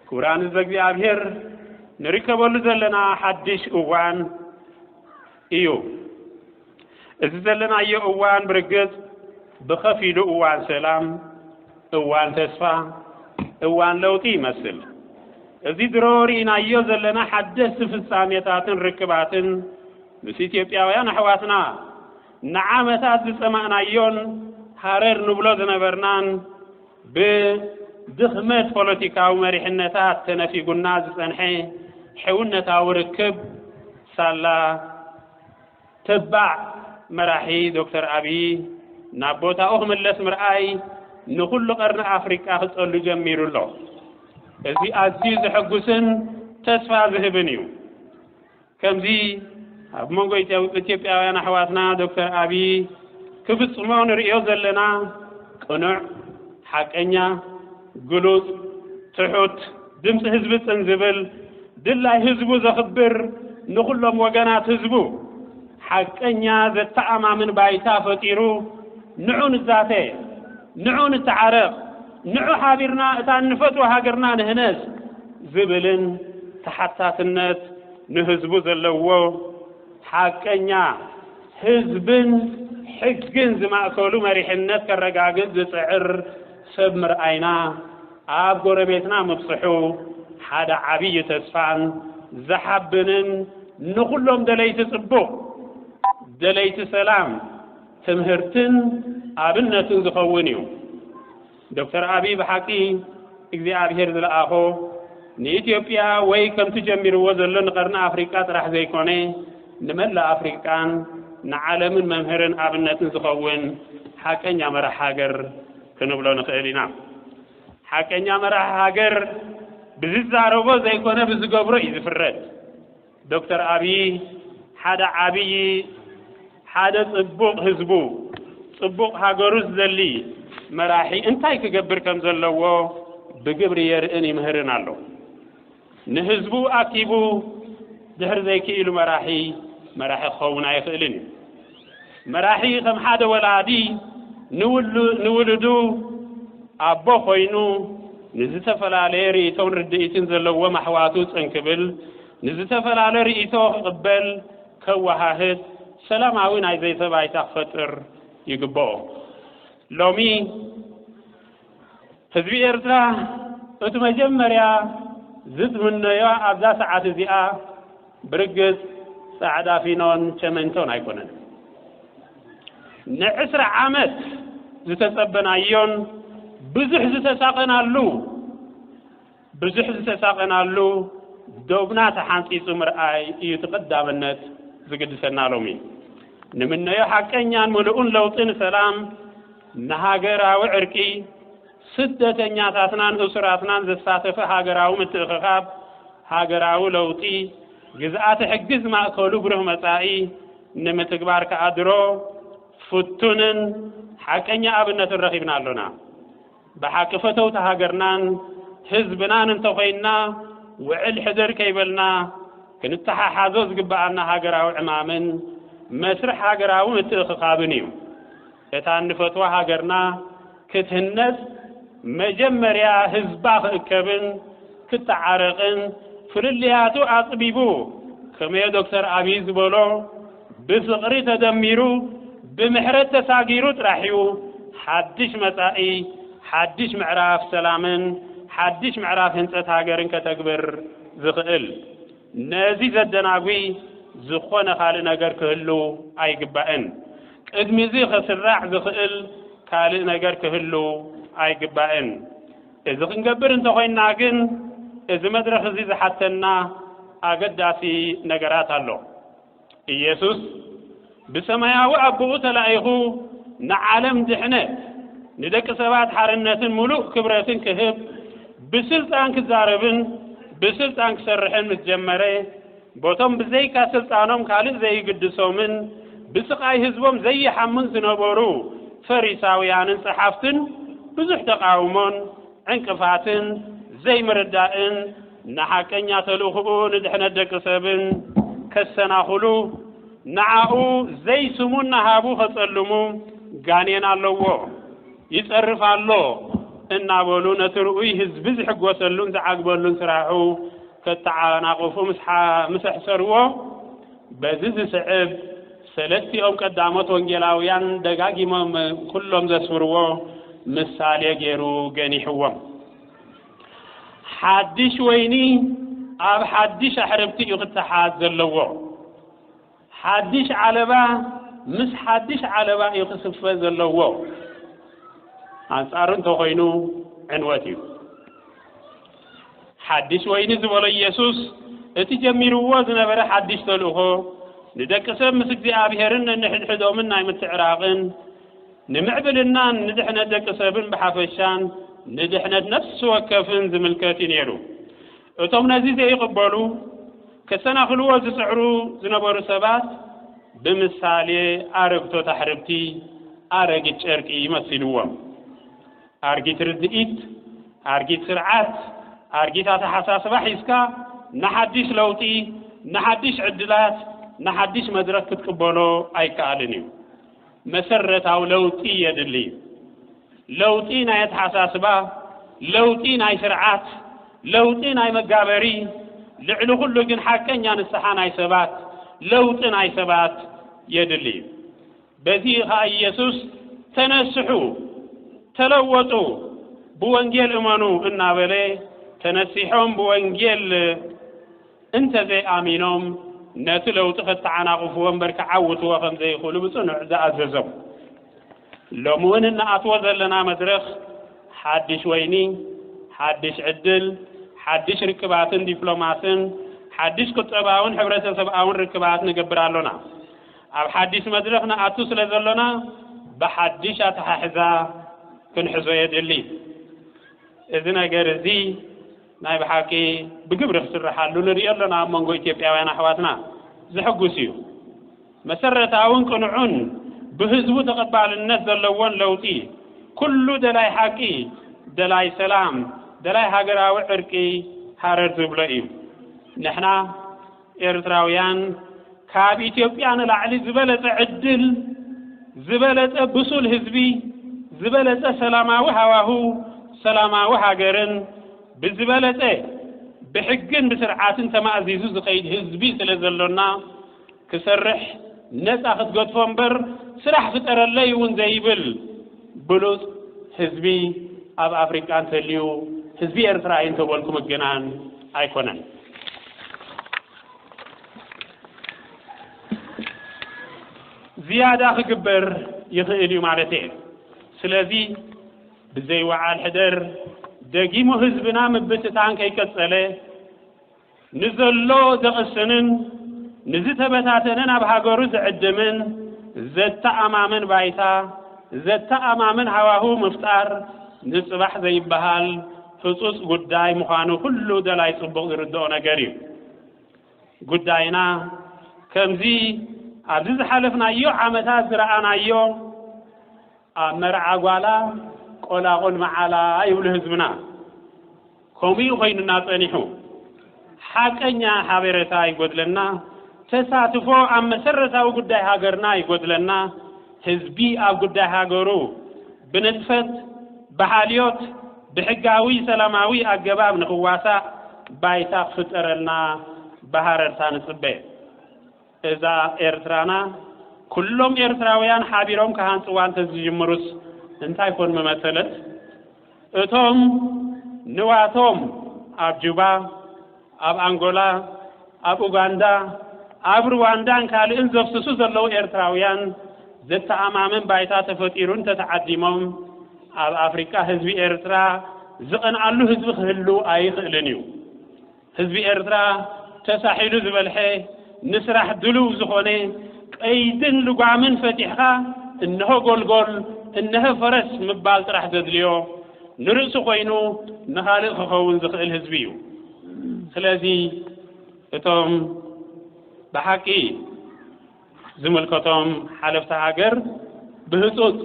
ክቡራን ህዝበ እግዚኣብሔር ንርከበሉ ዘለና ሓድሽ እዋን እዩ። እዚ ዘለናዮ እዋን ብርግጽ ብኸፊሉ እዋን ሰላም፣ እዋን ተስፋ፣ እዋን ለውጢ ይመስል። እዚ ድሮ ርኢናዮ ዘለና ሓደስቲ ፍጻሜታትን ርክባትን ምስ ኢትዮጵያውያን ኣሕዋትና ንዓመታት ዝጸማእናዮን ሃረር ንብሎ ዝነበርናን ብድኽመት ፖለቲካዊ መሪሕነታት ተነፊጉና ዝጸንሐ ሕውነታዊ ርክብ ሳላ ተባዕ መራሒ ዶክተር ኣብዪ ናብ ቦታኡ ክምለስ ምርኣይ ንኹሉ ቀርኒ ኣፍሪቃ ክጸሉ ጀሚሩ ኣሎ። እዚ ኣዝዩ ዘሐጉስን ተስፋ ዝህብን እዩ። ከምዚ ኣብ መንጎ ኢትዮጵያውያን ኣሕዋትና ዶክተር ኣብይ ክፍፅሞ ንርእዮ ዘለና ቅኑዕ፣ ሓቀኛ፣ ግሉፅ፣ ትሑት፣ ድምፂ ህዝቢ ፅን ዝብል፣ ድላይ ህዝቡ ዘኽብር፣ ንኹሎም ወገናት ህዝቡ ሓቀኛ ዘተኣማምን ባይታ ፈጢሩ ንዑ ንዛተ፣ ንዑ ንተዓረቕ፣ ንዑ ሓቢርና እታ እንፈትዋ ሃገርና ንህነጽ ዝብልን ተሓታትነት ንህዝቡ ዘለዎ ሓቀኛ ህዝብን ሕግን ዝማእከሉ መሪሕነት ከረጋግጽ ዝጽዕር ሰብ ምርኣይና ኣብ ጎረቤትና ምብጽሑ ሓደ ዓብዪ ተስፋን ዘሓብንን ንኹሎም ደለይቲ ጽቡቕ፣ ደለይቲ ሰላም፣ ትምህርትን ኣብነትን ዝኸውን እዩ። ዶክተር ኣብይ ብሓቂ እግዚኣብሄር ዝለኣኾ ንኢትዮጵያ ወይ ከምቲ ጀሚርዎ ዘሎ ንቀርኒ ኣፍሪቃ ጥራሕ ዘይኮነ ንመላእ ኣፍሪቃን ንዓለምን መምህርን ኣብነትን ዝኸውን ሓቀኛ መራሕ ሃገር ክንብሎ ንኽእል ኢና። ሓቀኛ መራሕ ሃገር ብዝዛረቦ ዘይኮነ ብዝገብሮ እዩ ዝፍረድ። ዶክተር ኣብዪ ሓደ ዓብዪ ሓደ ፅቡቕ ህዝቡ ፅቡቕ ሃገሩ ዝደሊ መራሒ እንታይ ክገብር ከም ዘለዎ ብግብሪ የርእን ይምህርን ኣሎ። ንህዝቡ ኣኪቡ ድሕር ዘይክኢሉ መራሒ መራሒ ክኸውን ኣይኽእልን እዩ። መራሒ ከም ሓደ ወላዲ ንውሉዱ ኣቦ ኮይኑ ንዝተፈላለየ ርእቶን ርድኢትን ዘለዎም ኣሕዋቱ ጽን ክብል፣ ንዝተፈላለ ርእቶ ክቕበል፣ ከወሃህድ፣ ሰላማዊ ናይ ዘተ ባይታ ክፈጥር ይግበኦ። ሎሚ። ህዝቢ ኤርትራ እቱ መጀመርያ ዝትምነዮ ኣብዛ ሰዓት እዚኣ ብርግጽ ጻዕዳ ፊኖን ቸመንቶን ኣይኮነን። ንዕስራ ዓመት ዝተጸበናዮን ብዙሕ ዝተሳቐናሉ፣ ብዙሕ ዝተሳቐናሉ ዶብና ተሓንጺጹ ምርኣይ እዩ እቲ ቀዳምነት ዝግድሰና ሎሚ። ንምነዮ ሓቀኛን ምሉእን ለውጢ ንሰላም፣ ንሃገራዊ ዕርቂ፣ ስደተኛታትናን እሱራትናን ዘሳተፈ ሃገራዊ ምትእኽኻብ፣ ሃገራዊ ለውጢ፣ ግዝኣተ ሕጊ ዝማእከሉ ብሩህ መጻኢ ንምትግባር ከኣ ድሮ ፍቱንን ሓቀኛ ኣብነትን ረኺብና ኣሎና። ብሓቂ ፈተውቲ ሃገርናን ህዝብናን እንተኾይንና ውዕል ሕድር ከይበልና ክንተሓሓዞ ዝግበኣና ሃገራዊ ዕማምን መስርሕ ሃገራዊ ምትእኽኻብን እዩ። እታ እንፈትዋ ሃገርና ክትህነጽ መጀመርያ ህዝባ ክእከብን ክተዓረቕን ፍልልያቱ ኣጽቢቡ ከመዮ ዶክተር ኣብይ ዝበሎ ብፍቕሪ ተደሚሩ ብምሕረት ተሳጊሩ ጥራሕ'ዩ ሓድሽ መጻኢ፣ ሓድሽ ምዕራፍ ሰላምን ሓድሽ ምዕራፍ ህንጸት ሃገርን ከተግብር ዝኽእል። ነዚ ዘደናጒ ዝኾነ ካልእ ነገር ክህሉ ኣይግባእን። ቅድሚ'ዚ ክስራዕ ዝኽእል ካልእ ነገር ክህሉ ኣይግባእን። እዚ ክንገብር እንተኾይንና ግን እዚ መድረኽ'ዚ ዝሓተና ኣገዳሲ ነገራት ኣሎ። ኢየሱስ ብሰማያዊ ኣቦኡ ተላኢኹ ንዓለም ድሕነት ንደቂ ሰባት ሓርነትን ምሉእ ክብረትን ክህብ ብስልጣን ክዛረብን ብስልጣን ክሰርሕን ምስ ጀመረ በቶም ብዘይካ ስልጣኖም ካልእ ዘይግድሶምን ብስቓይ ህዝቦም ዘይሓሙን ዝነበሩ ፈሪሳውያንን ጸሓፍትን ብዙሕ ተቃውሞን ዕንቅፋትን ዘይምርዳእን ንሓቀኛ ተልእኹኡ ንድሕነት ደቂ ሰብን ከሰናኹሉ ንዓኡ ዘይስሙን ናሃቡ ከጸልሙ ጋኔን ኣለዎ ይጸርፍ ኣሎ እናበሉ ነቲ ርኡይ ህዝቢ ዝሕጎሰሉን ዝዓግበሉን ስራሑ ከተዓናቕፉ ምስ ኣሕሰርዎ በዚ ዝስዕብ ሰለስቲኦም ቀዳሞት ወንጌላውያን ደጋጊሞም ኩሎም ዘስፍርዎ ምሳሌ ገይሩ ገኒሕዎም። ሓድሽ ወይኒ ኣብ ሓድሽ ኣሕርብቲ እዩ ክተሓዝ ዘለዎ። ሓድሽ ዓለባ ምስ ሓድሽ ዓለባ እዩ ክስፈ ዘለዎ። ኣንጻሩ እንተኾይኑ ዕንወት እዩ። ሓድሽ ወይኒ ዝበሎ ኢየሱስ እቲ ጀሚርዎ ዝነበረ ሓድሽ ተልእኾ ንደቂ ሰብ ምስ እግዚኣብሔርን ነንሕድሕዶምን ናይ ምትዕራቕን ንምዕብልናን ንድሕነት ደቂ ሰብን ብሓፈሻን ንድሕነት ነፍሲ ወከፍን ዝምልከት እዩ ነይሩ። እቶም ነዚ ዘይቕበሉ ከሰናኽልዎ ዝጽዕሩ ዝነበሩ ሰባት ብምሳሌ ኣረግቶት ኣሕርብቲ ኣረጊት ጨርቂ መሲልዎም። ኣርጊት ርድኢት፣ ኣርጊት ስርዓት፣ ኣርጊት ኣተሓሳስባ ሒዝካ ንሓድሽ ለውጢ፣ ንሓድሽ ዕድላት፣ ንሓድሽ መድረኽ ክትቅበሎ ኣይከኣልን እዩ። መሰረታዊ ለውጢ የድሊ እዩ። ለውጢ ናይ ኣተሓሳስባ፣ ለውጢ ናይ ስርዓት፣ ለውጢ ናይ መጋበሪ፣ ልዕሊ ኩሉ ግን ሓቀኛ ንስሓ ናይ ሰባት፣ ለውጢ ናይ ሰባት የድሊ እዩ። በዚ ኸኣ ኢየሱስ ተነስሑ፣ ተለወጡ፣ ብወንጌል እመኑ እናበለ ተነሲሖም ብወንጌል እንተዘይኣሚኖም ነቲ ለውጢ ከተዓናቕፍዎ እምበር ክዓውትዎ ከም ዘይኽእሉ ብጽኑዕ ዝኣዘዞም። ሎሚ እውን እንኣትዎ ዘለና መድረኽ ሓድሽ ወይኒ፣ ሓድሽ ዕድል፣ ሓድሽ ርክባትን ዲፕሎማስን፣ ሓድሽ ቁጠባውን ሕብረተሰብኣውን ርክባት ንገብር ኣሎና። ኣብ ሓዲሽ መድረኽ ንኣቱ ስለ ዘሎና ብሓዲሽ ኣተሓሕዛ ክንሕዞ የድሊ። እዚ ነገር እዚ ናይ ብሓቂ ብግብሪ ክስርሓሉ ንርእዮ ኣሎና ኣብ መንጎ ኢትዮጵያውያን ኣሕዋትና ዘሕጉስ እዩ። መሰረታውን ቅኑዑን ብህዝቡ ተቐባልነት ዘለዎን ለውጢ ኩሉ ደላይ ሓቂ፣ ደላይ ሰላም፣ ደላይ ሃገራዊ ዕርቂ ሃረር ዝብሎ እዩ። ንሕና ኤርትራውያን ካብ ኢትዮጵያ ንላዕሊ ዝበለጸ ዕድል፣ ዝበለጸ ብሱል ህዝቢ፣ ዝበለጸ ሰላማዊ ሃዋህው፣ ሰላማዊ ሃገርን ብዝበለጸ ብሕግን ብስርዓትን ተማእዚዙ ዝኸይድ ህዝቢ ስለ ዘሎና ክሰርሕ ነጻ ክትገድፎ እምበር ስራሕ ፍጠረለይ እውን ዘይብል ብሉጽ ህዝቢ ኣብ ኣፍሪቃ እንተልዩ ህዝቢ ኤርትራ እዩ እንተበልኩ ምግናን ኣይኮነን። ዝያዳ ክግበር ይኽእል እዩ ማለት እየ። ስለዚ ብዘይ ወዓል ሕደር ደጊሙ ህዝብና ምብትታን ከይቀጸለ ንዘሎ ዘቕስንን ንዝተበታተነን ኣብ ሃገሩ ዝዕድምን ዘተኣማምን ባይታ ዘተኣማምን ሃዋህው ምፍጣር ንጽባሕ ዘይበሃል ህጹጽ ጉዳይ ምዃኑ ኩሉ ደላይ ጽቡቕ ዝርድኦ ነገር እዩ። ጉዳይና ከምዚ ኣብዚ ዝሓለፍናዮ ዓመታት ዝረኣናዮ ኣብ መርዓ ጓላ ቆላቑል መዓላ ይብሉ ህዝብና። ከምኡ እዩ ኮይኑና ጸኒሑ። ሓቀኛ ሓቤረታ ይጎድለና፣ ተሳትፎ ኣብ መሰረታዊ ጉዳይ ሃገርና ይጎድለና፣ ህዝቢ ኣብ ጉዳይ ሃገሩ ብንጥፈት፣ ብሓልዮት፣ ብሕጋዊ ሰላማዊ ኣገባብ ንክዋሳእ ባይታ ክፍጠረልና ብሃረርታ ንጽበ። እዛ ኤርትራና ኩሎም ኤርትራውያን ሓቢሮም ክሃንጽዋ እንተዝጅምሩስ እንታይ ኮን ምመሰለት? እቶም ንዋቶም ኣብ ጁባ፣ ኣብ ኣንጎላ፣ ኣብ ኡጋንዳ፣ ኣብ ርዋንዳን ካልእን ዘፍስሱ ዘለዉ ኤርትራውያን ዘተኣማምን ባይታ ተፈጢሩ እንተተዓዲሞም ኣብ ኣፍሪቃ ህዝቢ ኤርትራ ዝቐንኣሉ ህዝቢ ክህሉ ኣይኽእልን እዩ። ህዝቢ ኤርትራ ተሳሒሉ ዝበልሐ፣ ንስራሕ ድሉው ዝኾነ፣ ቀይድን ልጓምን ፈቲሕኻ እነሆ ጎልጎል እነሀ ፈረስ ምባል ጥራሕ ዘድልዮ፣ ንርእሱ ኮይኑ ንኻልእ ክኸውን ዝኽእል ህዝቢ እዩ። ስለዚ እቶም ብሓቂ። ዝምልከቶም ሓለፍቲ ሃገር ብህጹጽ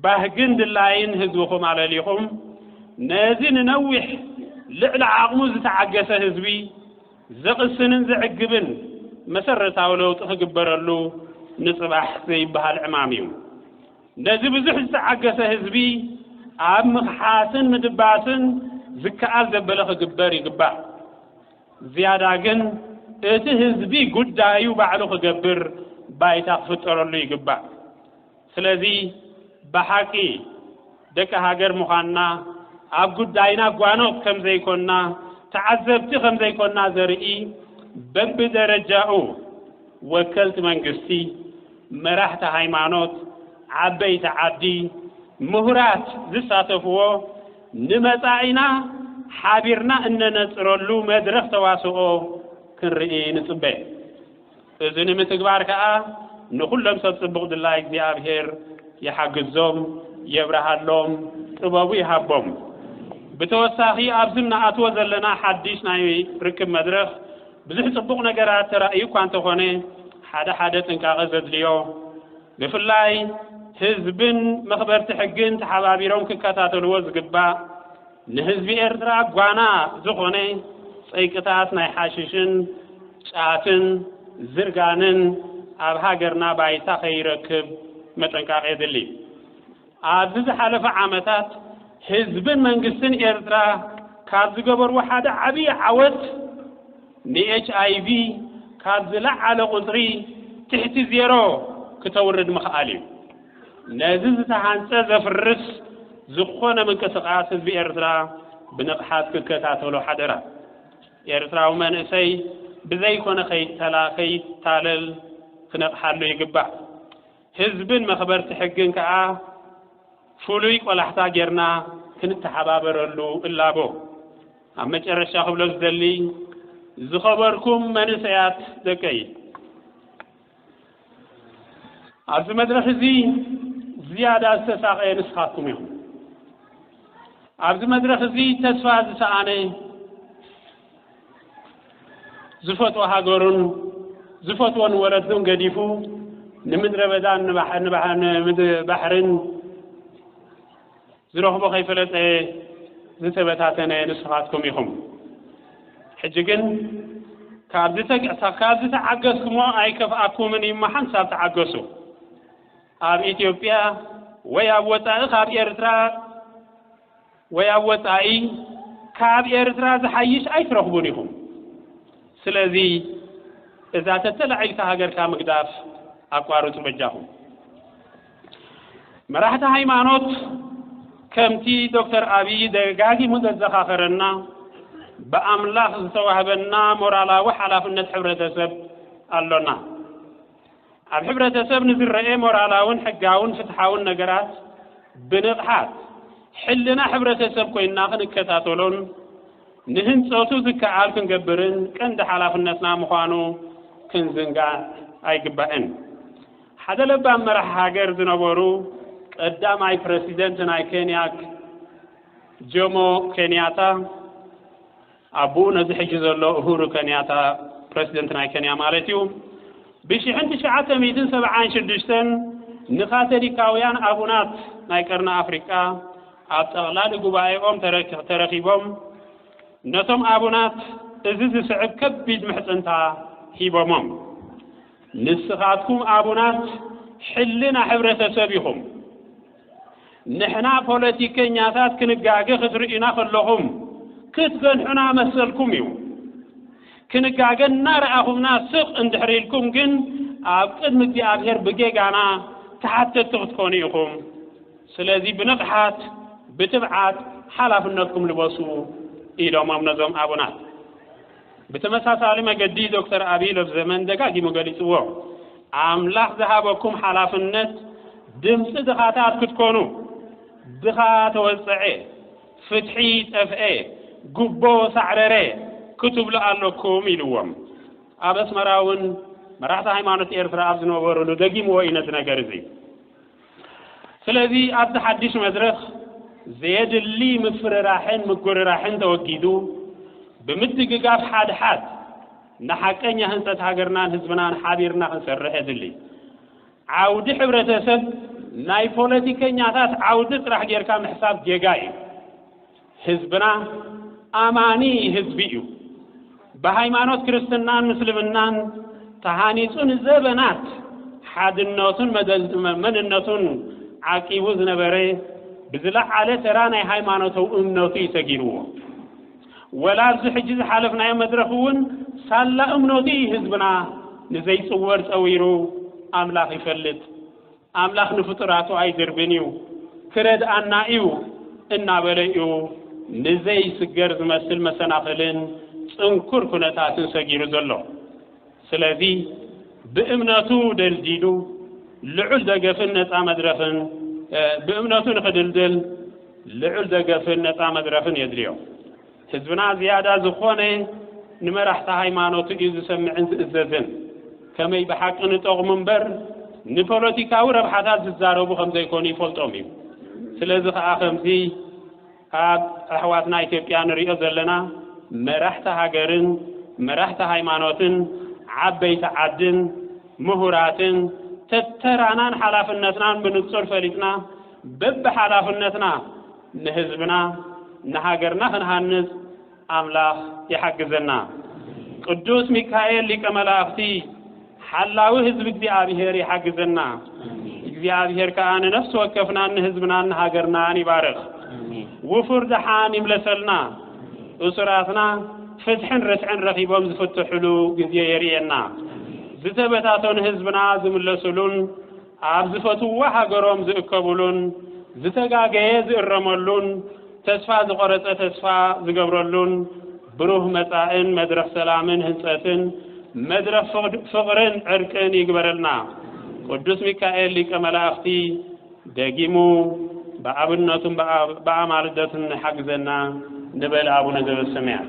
ባህግን ድላይን ህዝብኹም ኣለሊኹም ነዚ ንነዊሕ ልዕሊ ዓቕሙ ዝተዓገሰ ህዝቢ ዘቕስንን ዘዕግብን መሰረታዊ ለውጢ ክግበረሉ ንጽባሕ ዘይበሃል ዕማም እዩ። ነዚ ብዙሕ ዝተዓገሰ ህዝቢ ኣብ ምኽሓስን ምድባስን ዝከኣል ዘበለ ክግበር ይግባእ። ዝያዳ ግን እቲ ህዝቢ ጉዳዩ ባዕሉ ክገብር ባይታ ክፍጠረሉ ይግባእ። ስለዚ ብሓቂ ደቂ ሃገር ምዃንና፣ ኣብ ጉዳይና ጓኖት ከም ዘይኮንና፣ ተዓዘብቲ ከም ዘይኮንና ዘርኢ በብደረጃኡ ወከልቲ መንግስቲ፣ መራሕቲ ሃይማኖት፣ ዓበይቲ ዓዲ፣ ምሁራት ዝሳተፍዎ፣ ንመጻኢና ሓቢርና እነነጽረሉ መድረኽ ተዋስኦ ክንርኢ ንጽበ። እዚ ንምትግባር ከኣ ንኹሎም ሰብ ጽቡቕ ድላይ እግዚኣብሔር ይሓግዞም፣ የብርሃሎም፣ ጥበቡ ይሃቦም። ብተወሳኺ ኣብዚ እንኣትዎ ዘለና ሓዲሽ ናይ ርክብ መድረኽ፣ ብዙሕ ጽቡቕ ነገራት ተራእዩ እኳ እንተኾነ ሓደ ሓደ ጥንቃቐ ዘድልዮ ብፍላይ ህዝብን መኽበርቲ ሕግን ተሓባቢሮም ክከታተልዎ ዝግባእ ንህዝቢ ኤርትራ ጓና ዝኾነ ጸይቅታት ናይ ሓሽሽን ጫትን ዝርጋንን ኣብ ሃገርና ባይታ ከይረክብ መጠንቃቕ የድሊ። ኣብዚ ዝሓለፈ ዓመታት ህዝብን መንግስትን ኤርትራ ካብ ዝገበርዎ ሓደ ዓብዪ ዓወት ንኤችኣይቪ ካብ ዝለዓለ ቁጽሪ ትሕቲ ዜሮ ክተውርድ ምኽኣል እዩ። ነዚ ዝተሃንጸ ዘፍርስ ዝኾነ ምንቅስቓስ ህዝቢ ኤርትራ ብንቕሓት ክከታተሎ ሓደራ። ኤርትራዊ መንእሰይ ብዘይኮነ ከይታለል ክነቕሓሉ ይግባእ። ህዝብን መኽበርቲ ሕግን ከኣ ፍሉይ ቆላሕታ ጌርና ክንተሓባበረሉ እላቦ። ኣብ መጨረሻ ክብሎ ዝደሊ ዝኸበርኩም መንእሰያት ደቀይ ኣብዚ መድረኽ እዚ ዝያዳ ዝተሳቐየ ንስኻትኩም ኢኹም። ኣብዚ መድረኽ እዚ ተስፋ ዝሰኣነ ዝፈትዎ ሃገሩን ዝፈትዎን ወለዱን ገዲፉ ንምድረ በዳን ንባሕርን ዝረኽቦ ከይፈለጠ ዝተበታተነ ንስኻትኩም ኢኹም። ሕጂ ግን ካብዚ ካብዚ ተዓገስኩሞ ኣይከፍኣኩምን እዩ እሞ ሓንሳብ ተዓገሱ። ኣብ ኢትዮጵያ ወይ ኣብ ወጻኢ ካብ ኤርትራ ወይ ኣብ ወጻኢ ካብ ኤርትራ ዝሓይሽ ኣይትረኽቡን ኢኹም። ስለዚ እዛ ተተላዒልካ ሃገርካ ምግዳፍ ኣቋርጹ በጃኹም። መራሕቲ ሃይማኖት ከምቲ ዶክተር ኣብይ ደጋጊሙ ዘዘኻኸረና ብኣምላኽ ዝተዋህበና ሞራላዊ ሓላፍነት ሕብረተሰብ ኣሎና። ኣብ ሕብረተሰብ ንዝረኤ ሞራላውን ሕጋውን ፍትሓውን ነገራት ብንቕሓት ሕልና ሕብረተሰብ ኮይንና ክንከታተሎን ንህንጸቱ ዝከኣል ክንገብርን ቀንዲ ሓላፍነትና ምዃኑ ክንዝንጋዕ ኣይግባእን። ሓደ ለባም መራሒ ሃገር ዝነበሩ ቀዳማይ ፕረሲደንት ናይ ኬንያ ጆሞ ኬንያታ፣ ኣቡኡ ነዚ ሕጂ ዘሎ ኡሁሩ ከንያታ፣ ፕረሲደንት ናይ ከንያ ማለት እዩ፣ ብሽሕን ትሽዓተ ሚእትን ሰብዓን ሽዱሽተን ንካቶሊካውያን ኣቡናት ናይ ቀርኒ ኣፍሪቃ ኣብ ጠቕላሊ ጉባኤኦም ተረኺቦም ነቶም ኣቡናት እዚ ዝስዕብ ከቢድ ምሕጽንታ ሂቦሞም፣ ንስኻትኩም ኣቡናት ሕልና ሕብረተሰብ ኢኹም። ንሕና ፖለቲከኛታት ክንጋገ ክትርእዩና ከለኹም ክትገንሑና መሰልኩም እዩ። ክንጋገ እናረኣኹምና ስቕ እንድሕር ኢልኩም ግን ኣብ ቅድሚ እግዚኣብሔር ብጌጋና ተሓተቲ ክትኮኑ ኢኹም። ስለዚ ብንቕሓት ብትብዓት ሓላፍነትኩም ልበሱ ኢሎሞም ነዞም ኣቡናት። ብተመሳሳሊ መገዲ ዶክተር ኣቢይ ሎብዘመን ደጋጊሙ ገሊፅዎ። ኣምላኽ ዝሃበኩም ሓላፍነት ድምፂ ድኻታት ክትኮኑ፣ ድኻ ተወፀዐ፣ ፍትሒ ጠፍኤ፣ ጉቦ ሳዕረረ ክትብሉ ኣለኩም ኢልዎም። ኣብ ኣስመራ እውን መራሕቲ ሃይማኖት ኤርትራ ኣብ ዝነበሩሉ ደጊምዎ እዩ ነዚ ነገር እዚ። ስለዚ ኣብዚ ሓድሽ መድረኽ ዘየድሊ ምፍርራሕን ምጉርራሕን ተወጊዱ ብምድግጋፍ ሓድሓድ ንሓቀኛ ህንፀት ሃገርናን ህዝብናን ሓቢርና ክንሰርሕ የድሊ። ዓውዲ ሕብረተሰብ ናይ ፖለቲከኛታት ዓውዲ ጥራሕ ጌርካ ምሕሳብ ጌጋ እዩ። ህዝብና ኣማኒ ህዝቢ እዩ። ብሃይማኖት ክርስትናን ምስልምናን ተሃኒጹ ንዘበናት ሓድነቱን መንነቱን ዓቂቡ ዝነበረ ብዝለዓለ ተራ ናይ ሃይማኖታዊ እምነቱ እዩ ሰጊርዎ። ወላ ኣብዚ ሕጂ ዝሓለፍናዮ መድረኽ እውን ሳላ እምነቱ እዩ ህዝብና ንዘይጽወር ጸዊሩ ኣምላኽ ይፈልጥ። ኣምላኽ ንፍጡራቱ ኣይድርብን እዩ፣ ክረድኣና እዩ እናበለ እዩ ንዘይስገር ዝመስል መሰናኽልን ጽንኩር ኩነታትን ሰጊሩ ዘሎ። ስለዚ ብእምነቱ ደልዲሉ ልዑል ደገፍን ነጻ መድረኽን ብእምነቱ ንኽድልድል ልዑል ደገፍን ነጻ መድረኽን የድልዮ። ህዝብና ዝያዳ ዝኾነ ንመራሕቲ ሃይማኖቱ እዩ ዝሰምዕን ዝእዘዝን። ከመይ ብሓቂ ንጠቕሙ እምበር ንፖለቲካዊ ረብሓታት ዝዛረቡ ከም ዘይኮኑ ይፈልጦም እዩ። ስለዚ ከኣ ከምዚ ኣብ ኣሕዋትና ኢትዮጵያ ንሪኦ ዘለና መራሕቲ ሃገርን መራሕቲ ሃይማኖትን ዓበይቲ ዓድን ምሁራትን ተተራናን ሓላፍነትናን ብንጹር ፈሊጥና በብሓላፍነትና ንህዝብና ንሃገርና ክንሃንጽ ኣምላኽ ይሓግዘና። ቅዱስ ሚካኤል ሊቀ መላእኽቲ ሓላዊ ህዝቢ እግዚኣብሔር ይሓግዘና። እግዚኣብሔር ከኣ ንነፍሲ ወከፍናን ንህዝብናን ንሃገርናን ይባርኽ። ውፉር ደሓን ይምለሰልና። እሱራትና ፍትሕን ርትዕን ረኺቦም ዝፍትሕሉ ግዜ የርእየና። ዝተበታተኑ ህዝብና ዝምለስሉን ኣብ ዝፈትውዋ ሃገሮም ዝእከቡሉን ዝተጋገየ ዝእረመሉን ተስፋ ዝቆረጸ ተስፋ ዝገብረሉን ብሩህ መጻእን መድረኽ ሰላምን ህንጸትን መድረኽ ፍቕርን ዕርቅን ይግበረልና ቅዱስ ሚካኤል ሊቀ መላእኽቲ ደጊሙ ብኣብነቱን ብኣማልደቱን ንሓግዘና ንበል ኣቡነ ዘበሰማያት